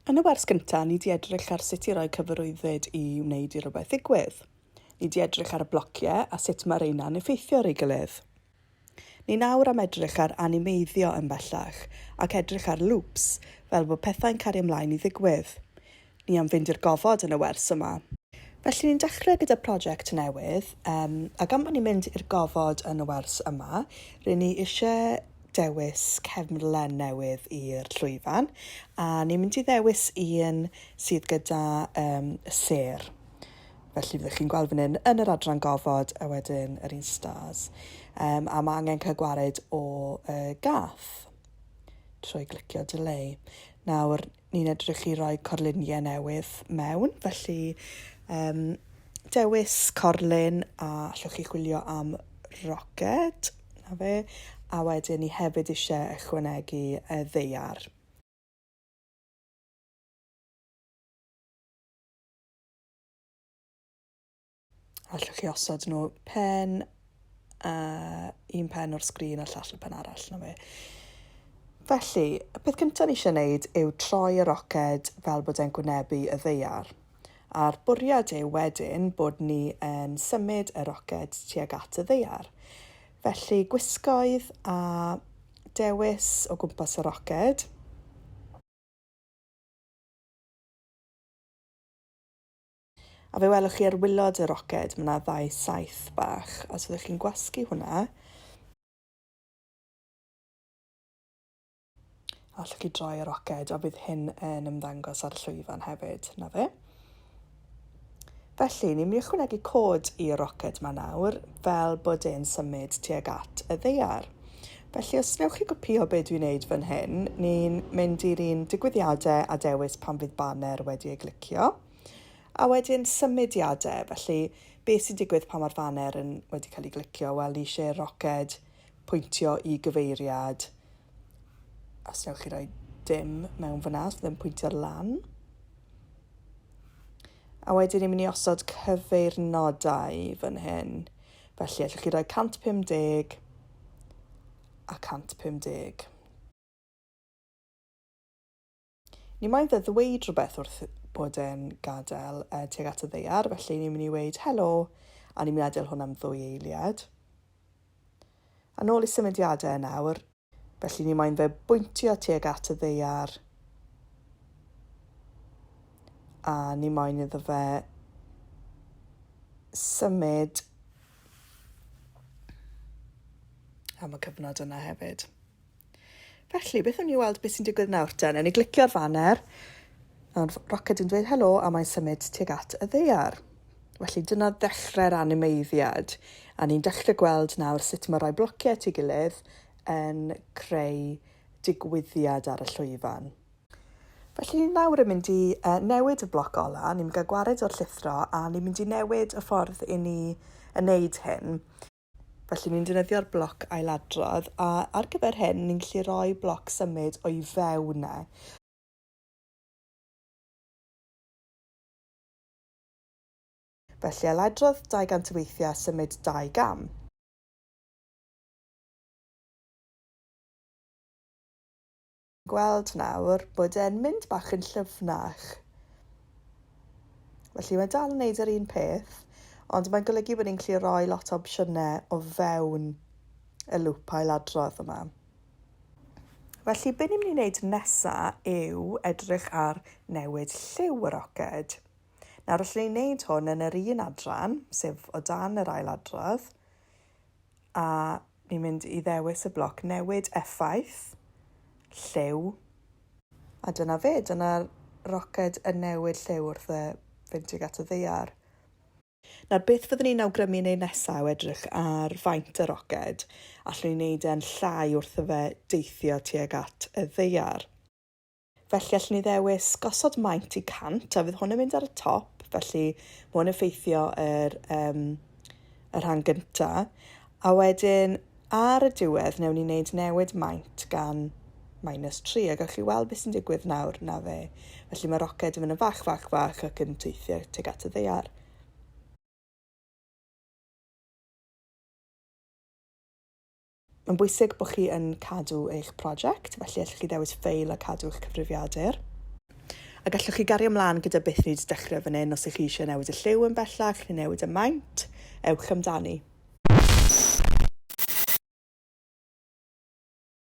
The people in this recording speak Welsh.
Yn y wers gyntaf, ni di edrych ar sut i roi cyfarwyddyd i wneud i rhywbeth ddigwydd. Ni di edrych ar y blociau a sut mae reina'n effeithio ar ei gilydd. Ni nawr am edrych ar animeiddio yn bellach ac edrych ar loops, fel bod pethau'n cario ymlaen i ddigwydd. Ni am fynd i'r gofod yn y wers yma. Felly ni'n dechrau gyda prosiect newydd, um, a gan bod ni'n mynd i'r gofod yn y wers yma, rydyn ni eisiau dewis cefnlen newydd i'r llwyfan, a ni'n mynd i ddewis un sydd gyda um, y ser. Felly fyddwch chi'n gweld fan hyn yn yr adran gofod a wedyn yr un stars. Um, a mae angen cael gwared o uh, gath trwy glicio delay. Nawr, ni'n edrych i roi corluniau newydd mewn, felly um, dewis corlun a allwch chi chwilio am roced, na fe, a wedyn ni hefyd eisiau ychwanegu y ddeiar. Allwch chi osod nhw pen a un pen o'r sgrin a llall y pen arall na fe. Felly, y peth cyntaf ni eisiau gwneud yw troi y roced fel bod e'n gwynebu y ddeiar. A'r bwriad yw wedyn bod ni yn symud y roced tuag at y ddeiar. Felly, gwisgoedd a dewis o gwmpas y roced. A fe welwch chi ar wylod y roced, mae yna ddau saeth bach, a os ydych chi'n gwasgu hwnna, allwch chi droi y roced, a bydd hyn yn ymddangos ar y llwyfan hefyd, na fe. Felly, ni'n mynd i ychwanegu cod i'r roced ma nawr, fel bod e'n symud tuag at y ddeiar. Felly, os newch chi gopio be dwi'n neud fan hyn, ni'n mynd i'r un digwyddiadau a dewis pan fydd banner wedi ei glicio. A wedyn symudiadau, felly beth sy'n digwydd pan mae'r faner yn wedi cael ei glicio? Wel, ni eisiau roced pwyntio i gyfeiriad. Os newch chi roi dim mewn fyna, os ddim pwyntio lan. A wedyn ni'n mynd i osod cyfeirnodau fan hyn. Felly, allwch chi roi 150 a 150. Ni mae fe ddweud rhywbeth wrth bod e'n gadael uh, tuag at y ddeiar, felly ni'n mynd i weid helo, a ni'n mynd i adael hwn am ddwy eiliad. A nôl i symudiadau yn awr, felly ni mae'n fe bwyntio tuag at y ddeiar, a ni mae'n iddo fe symud am y cyfnod yna hefyd. Felly, beth wn i weld beth sy'n digwydd nawr ta? Newn ni glicio'r faner. Nawr, roced yn dweud helo a mae'n symud tuag at y ddeiar. Felly, dyna ddechrau'r animeiddiad. A ni'n dechrau gweld nawr sut mae rhai blociau at ei gilydd yn creu digwyddiad ar y llwyfan. Felly, nawr yn mynd i uh, newid y bloc ola, ni'n mynd i gael gwared o'r llithro a ni'n mynd i newid y ffordd i ni yn neud hyn. Felly ni'n defnyddio'r bloc ailadrodd a ar gyfer hyn ni'n gallu rhoi bloc symud o'i fewn e. Felly ailadrodd 200 o weithiau a symud dau gam. gweld nawr bod e'n mynd bach yn llyfnach. Felly mae dal yn neud yr un peth, ond mae'n golygu bod ni'n gallu rhoi lot o opsiynau o fewn y lŵp ailadrodd yma. Felly, be ni'n mynd i wneud nesaf yw edrych ar newid lliw y roced. Nawr, allwn ni wneud hwn yn yr un adran, sef o dan yr ail adrodd, a Ni'n mynd i ddewis y bloc newid effaith, lliw. A dyna fe, dyna'r roced yn newid lliw wrth y fynd tuag at y ddaear. Nawr, beth fyddwn ni'n awgrymu yn ei nesaf yw edrych ar faint y roced. Allwn ni wneud e'n llai wrth y fe deithio tuag at y ddaear. Felly allwn ni ddewis gosod maint i 100 a fydd hwn yn mynd ar y top, felly mae hwn yn ffeithio yr, um, y rhan gyntaf. A wedyn ar y diwedd newn ni wneud newid maint gan minus 3 a gallwch chi weld beth sy'n digwydd nawr na fe. Felly mae roced yn mynd yn fach, fach, fach ac yn teithio teg at y ddeiar. Mae'n bwysig bod chi yn cadw eich prosiect, felly allwch chi ddewis ffeil a cadw eich cyfrifiadur. A gallwch chi gario ymlaen gyda beth ni wedi dechrau fan hyn os ych chi eisiau newid y lliw yn bellach neu newid y maint, ewch amdani.